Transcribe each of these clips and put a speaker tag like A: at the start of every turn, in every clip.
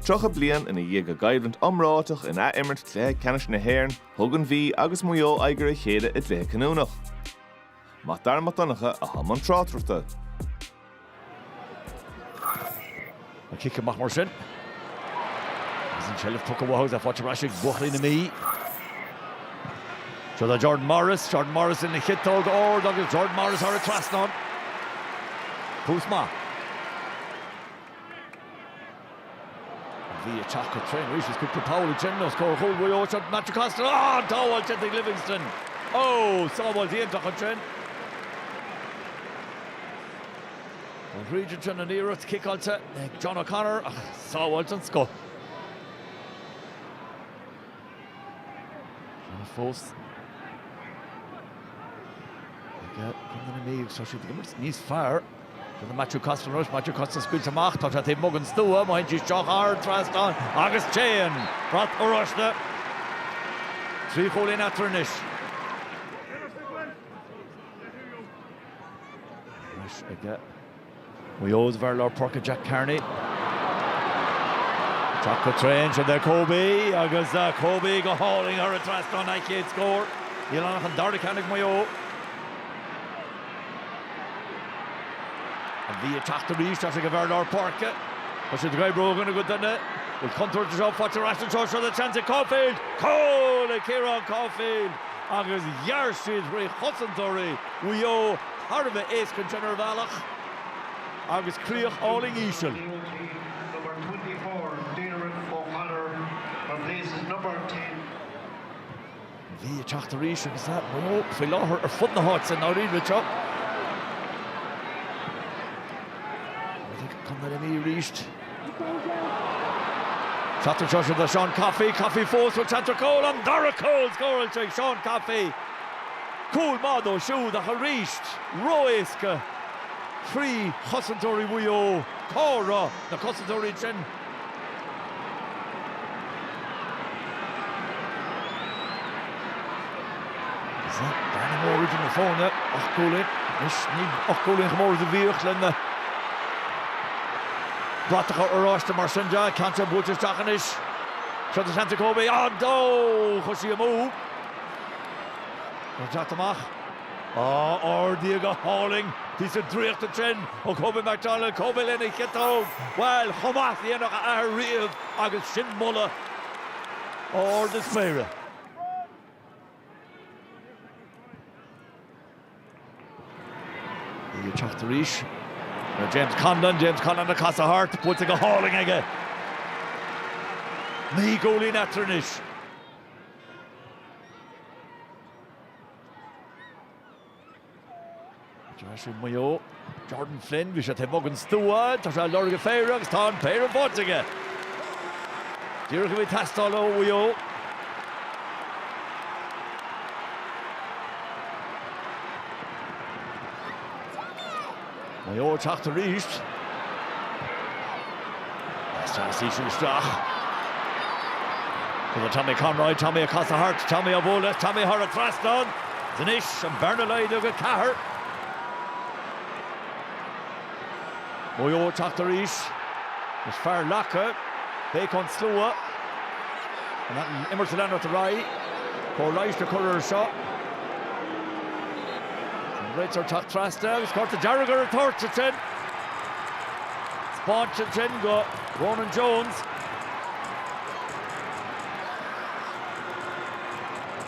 A: Tríocha bliain i ndiaidh a gcoimhlint iomráiteach in athimirt Cluiche Ceannais na hÉireann, thug an Mhí agus Maigh Eo aghaidh ar a chéile i gcluiche cinniúnach. Mac Dara Mac Donncha atá i mbun
B: tráchtaireachta. An cic amach mar sin agus an tseilbh tugtha uathu is faighte ar ais ag buachaillí na Mí. Seo do Jordan Morris, Jordan Morris lena chiotóg ard agus Jordan Morris thar an trasnán. Tús maith. An Mhí ag teacht go tréan arís is cúpla poll á ndéanamh os comhair chúl Mhaigh Eo. Seo do Matthew Costello. Á! An tsábháil sin ag Livingstone. Ó! Sábháil iontach ansin. An thríd ansin an iarracht ciceáilte ag John O'Connor ach sábháil den scoth. Fianna fós ag Contae na Mí, tá siad ag imirt níos fearr. Tá Matthew Costello anois, Matthew Costello scaoilte amach, tá sé taobh amuigh den stua, má théann sí isteach thar an trasnán agus téann brat oráiste trí chúilín eatarthu anois. Anois ag Maigh Eo ag an bhfear lár páirce Jack Carney. Ag teacht go tréan do Kobe agus Kobe go hálainn thar an trasnán a chéad scór. Níl ann ach an dara ceann ag Maigh Eo. An Mhí ag teacht arís is ag an bhfear lár páirce. Tá siad ag oibriú ó dhuine go duine. Bhfuil contúirt anseo faighte ar ais anseo. Seo le seans ag Caulfield. Cúl ag Ciarán Caulfield agus ghearr siad thrí chosantóirí Mhaigh Eo. thar a bheith éasca ansin ar bhealach, agus críoch álainn íseal. An Mhí ag teacht arís agus é ba mhó faoi láthair ar fud na háite, i ndáiríre. Chuardaigh Contae na Mí arís. Cathair treise do Seán Coffey, Coffey fós seans ar chúl, an dara cúl scóráilte ag Seán Coffey. Cúl maith dó siúd ach arís ró-éasca trí chosantóirí Mhaigh Eo. Cá raibh na cosantóirí ansin? Tá bearna mhór idir na foirne ocht gcúilín anois, níl ocht gcúilín chomh mór is a bhíodh leis na bratacha oráiste mar sin de, ceann ard buailte isteach anois, seo seans ag Kobe, ó no, chuaigh sí amú ag teacht amach. Á ardaithe go hálainn píosa draíochta ansin ó Kobe McDonald, Kobe lena chiotóg, bhuel, chomh maith is a dhéanfadh a athair riamh agus sin moladh ard na spéire. Ag teacht arís ar James Conlon, James Conlon ag casadh thart, buaite go hálainn aige. Naoi gcúilín eatarthu anois. Dearthóir Mhaigh Eo, Jordan Flynn, bhí sé taobh amuigh den stua, tá sé á lorg go péire agus tá an péire faighte aige. Díreach a bhí ag teastáil ó Mhaigh Eo. Maigh Eo ag teacht arís. Deas teann a saothraigh isteach. Tugann Tommy Conroy, Tommy ag casadh thart, Tommy á bhualadh is Tommy thar an trasnán. Is anois an bearna laghdaithe go ceathair. Maigh Eo ag teacht arís. Is fear leagtha. Béic ón slua. An imirt ag leanacht ar aghaidh. Cóir leighis le cur air seo. Réiteoir teacht trasna agus cárta dearg ar an toirt ansin. Spáinte ansin go Ronan Jones.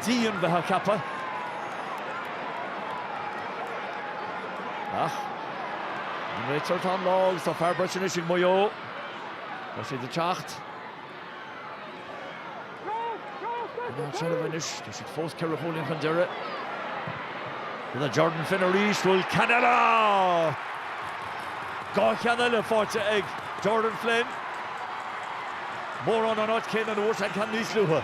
B: Dian a bheith á cheapadh. Ach an réiteoir atá i láthair agus tá fear breise anois ag Maigh Eo. Tá siad ag teacht. Ná seoladh anois, tá siad fós ceithre chúilín chun deiridh. Rinne Jordan Flynn arís, bhuail Canada! Dhá cheann eile faighte ag Jordan Flynn. Mórán an áit céanna a bhfuair sé an ceann níos luaithe.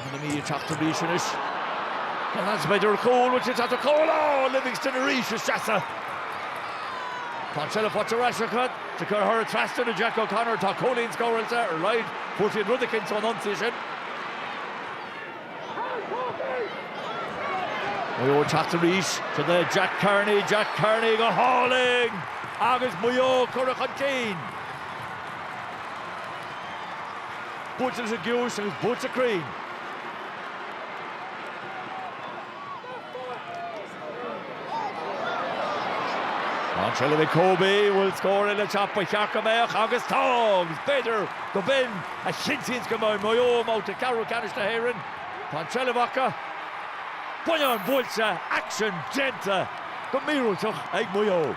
B: Tá an Mhí ag teacht arís anois. Is b'fhéidir cúl bhfuil sé ag teacht ar chúl. Á! Livingstone arís ina sheasamh. Tá seilbh faighte ar ais acu. Sa chéad huaire trasna do Jack O'Connor tá cúilín scóráilte ar laghad. Fuair siad rud eicínt ón ionsaí sin. Maigh Eo ag teacht arís. Sin é Jack Carney. Jack Carney go hálainn agus Maigh Eo ag gabháil chun cinn. Buaite leis an gciumhais agus buaite cruinn. An tseilbh ag Kobe, bhfuil scór eile teacht ba cheart go mbeadh agus tá agus b'fhéidir gob in a chinntíonns go mbeidh Maigh Eo i mbabhta ceathrú ceannais na hÉireann. Tá an tseilbh acu, bonnán buailte, aiséirí déanta go míorúilteach ag Maigh Eo.